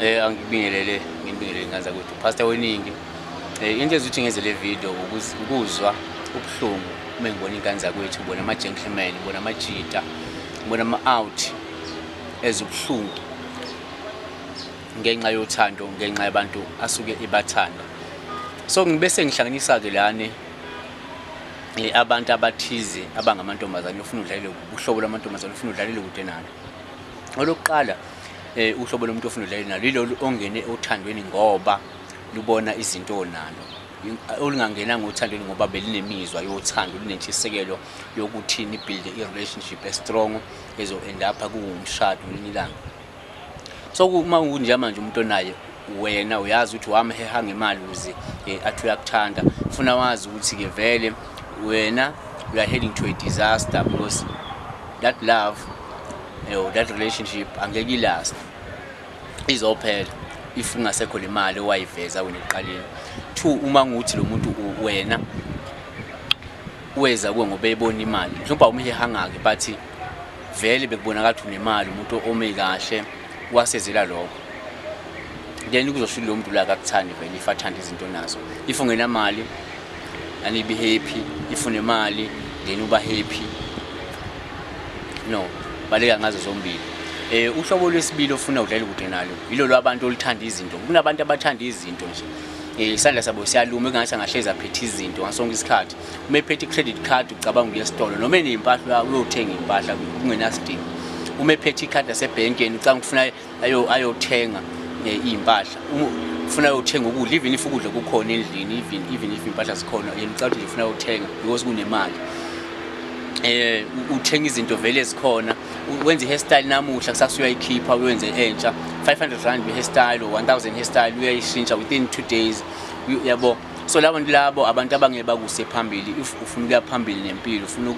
Eh angibingelele ngibingelele ngaza ukuthi pastor weningi. Eh into ezuthi ngenze le video ukuzwa ubuhlungu uma ngibona ingane zakwethu bona ama gentleman bona ama cheater bona ama out ezibuhlungu ngenxa yothando ngenxa yabantu asuke ibathanda so ngibe sengihlanganisa ke lane eh, abantu abathize abangamantombazane ufuna udlalele ubuhlobo lwamantombazane ufuna udlalele kude nalo olokuqala eh uhlobo lomuntu ofuna udlale nalo yilolu ongene othandweni ngoba lubona izinto onalo olungangena ngothandweni ngoba belinemizwa yothando linentshisekelo yokuthi nibuild i-relationship estrong ezo-end up kuwumshado ngelinye ilanga so uma kunje manje umuntu onaye wena uyazi ukuthi wamheha ngemali uze eh, athi uyakuthanda funa wazi ukuthi-ke vele wena you are heading to a disaster because that love yo that relationship angeke ilast izophela if ungasekho le mali owayiveza wena ekuqaleni two uma nguthi lo muntu wena weza kuwe ngoba ebona imali mhlawumbe awumhehanga-ke but vele bekubonakala ukuthi unemali umuntu ome kahle wasezela lokho then kuzosho ukuthi lo muntu la kakuthandi vele if athanda izinto nazo if ungenamali anibe happy if unemali then uba happy no baleka ngazo zombili eh uhlobo lwesibili ofuna udlala kude nalo yilo lwabantu oluthanda izinto kunabantu abathanda izinto nje eh isandla sabo siyaluma engathi angahlezi aphethe izinto ngasonke isikhathi uma ephethe credit card ucabanga ukuya esitolo noma enempahla uyothenga impahla kungenasidingo uma ephethe ikhadi lasebhenkeni ucanga ukufuna ayothenga eh, iy'mpahla ufuna ayothenga ukudla even if ukudla kukhona endlini even even if impahla zikhona yena ucabanga ukuthi ufuna ayothenga because kunemali eh uthenga izinto vele ezikhona wenza i-hairstyle namuhla kusasa uyayikhipha uyenze entsha 500 rand be-hairstyle or 1000 hairstyle uyayishintsha within two days yabo so labo nto labo abantu abangeke bakuse phambili if ufuna ukuya phambili nempilo ufuna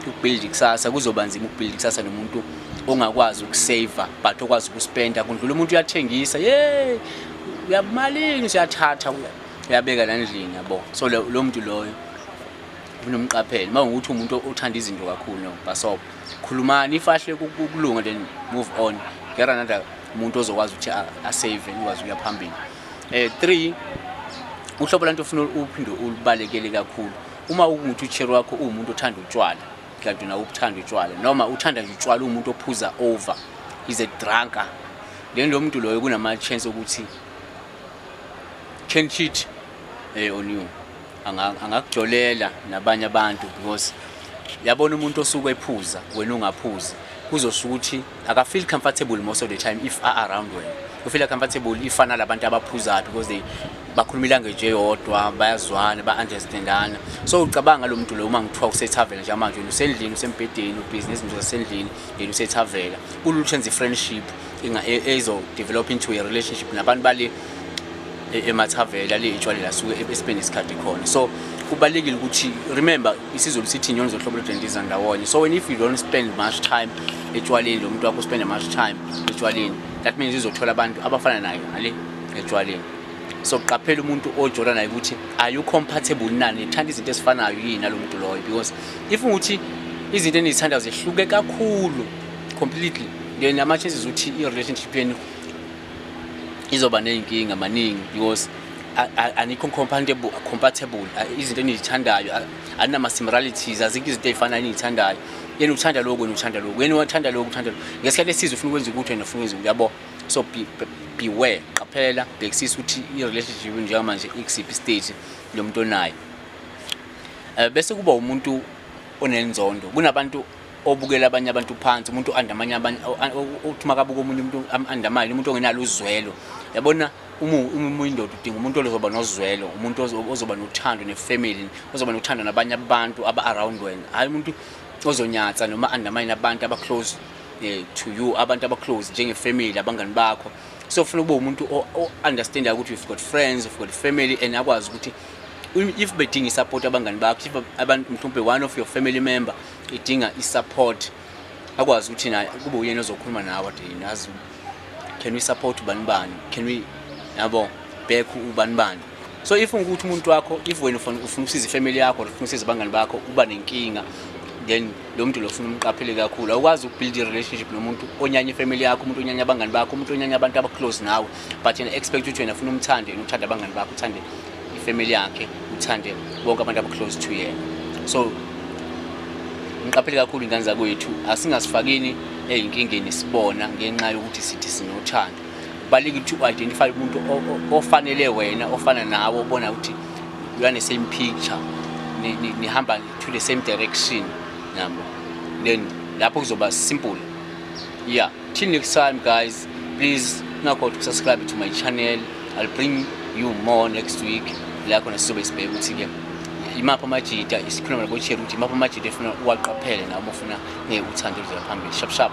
ukubuild ikusasa kuzoba nzima ukubuild ikusasa nomuntu ongakwazi ukusave but okwazi ukuspenda kundlula umuntu uyathengisa ye uyabumalini siyathatha uyabeka landlini yabo so lo muntu loyo unomqapheli uma ukuthi umuntu othanda izinto kakhulu no basobo khulumani ifahle ukulunga then move on get another umuntu ozokwazi ukuthi asave ukwazi ukuya phambili eh 3 uhlobo lanto ufuna uphinde ulibalekele kakhulu uma ukuthi uchero wakho uwumuntu othanda utshwala Kanti nawe ukuthanda utshwala noma uthanda nje utshwala umuntu ophuza over is a drunker. Then lo muntu loyo kunama chance ukuthi can cheat eh on you. Angakujolela nabanye abantu because yabona umuntu osuke ephuza wena ungaphuzi kuzosukuthi aka feel comfortable most of the time if are around wena u feel comfortable if ana labantu abaphuza because they bakhuluma ilanguage eyodwa bayazwana ba understandana so ucabanga lo muntu lo uma ngithiwa usethavela nje manje usendlini usembhedeni ubusiness nje usendlini yena usethavela kuluthenza i friendship inga e, ezo develop into a relationship nabantu bale e-, emathavela leyitshwalela suke e-, esipende isikhathi khona so kubalekile ukuthi remember isizulu sithi inyoni zohlobo lodendeza ndawonye so when if you don't spend much time etshwaleni lo muntu wakho spend much time etshwaleni that means izothola abantu abafana nayo ngale etshwaleni so qaphela umuntu ojola naye ukuthi are you compatible nani thanda izinto ezifanayo yini nalo muntu loyo because if ukuthi izinto enizithandayo zehluke kakhulu completely then ama chances ukuthi i relationship yenu izoba ney'nkinga maningi because anikho compatible compatible izinto enizithandayo anama similarities azikho izinto ezifana enizithandayo yena uthanda lokho wena uthanda lokho yena uthanda lokho uthanda lokho ngesikhathi esizo ufuna ukwenza ukuthi wena ufuna ukwenza uyabo so be, be, beware qaphela bhekisisa ukuthi i-relationship njengamanje ikusiphi stage lo muntu onayo um bese kuba umuntu onenzondo kunabantu obukela abanye abantu phansi umuntu oanda amanye abanye uthi makabuka omunye umuntu anda amanye umuntu ongenalo uzwelo yabona uma uma indoda udinga umuntu ozoba nozwelo umuntu ozoba nothando nefamily ozoba nothando nabanye abantu aba around wena hayi umuntu ozonyatsa noma anda amanye abantu aba close eh, to you abantu aba close njenge family abangani bakho so ufuna ukuba umuntu o understand ukuthi you've got friends you've got family and akwazi ukuthi if bedinga support abangani bakho if abantu mhlawumbe one of your family member idinga i-support akwazi ukuthi na kube uyena ozokhuluma nawe ade nazi can we support ubani bani can we yabo back ubani bani so if ukuthi umuntu wakho if wena ufuna ufuna usiza ifamily yakho ufuna usiza abangani bakho uba nenkinga then lo muntu lo funa umqaphele kakhulu awukwazi ukubuild i-relationship nomuntu onyanya ifamily yakho umuntu onyanya abangani bakho umuntu onyanya abantu abaclose nawe but yena expect ukuthi wena funa umthande yena uthanda abangani bakho uthande ifamily yakhe uthande bonke abantu abaclose to yena so ngiqaphele kakhulu ingane zakwethu asingasifakini ezinkingeni sibona ngenxa yokuthi sithi sinothando kubalulekile ukuthi u-identify umuntu ofanele wena ofana nawe obona ukuthi you are the same picture nihamba to the same direction nabo then lapho kuzoba simple yeah Till next time guys, please ungakhohlwa ukusubscribe to my channel. I'll bring you more next week. La khona sizobe sibheke ukuthi ke imaphi amajita isikhuluma nabo Cherry ukuthi imaphi amajita efuna uwaqaphele nabo ufuna ngeke uthande uzela phambili. Shap shap.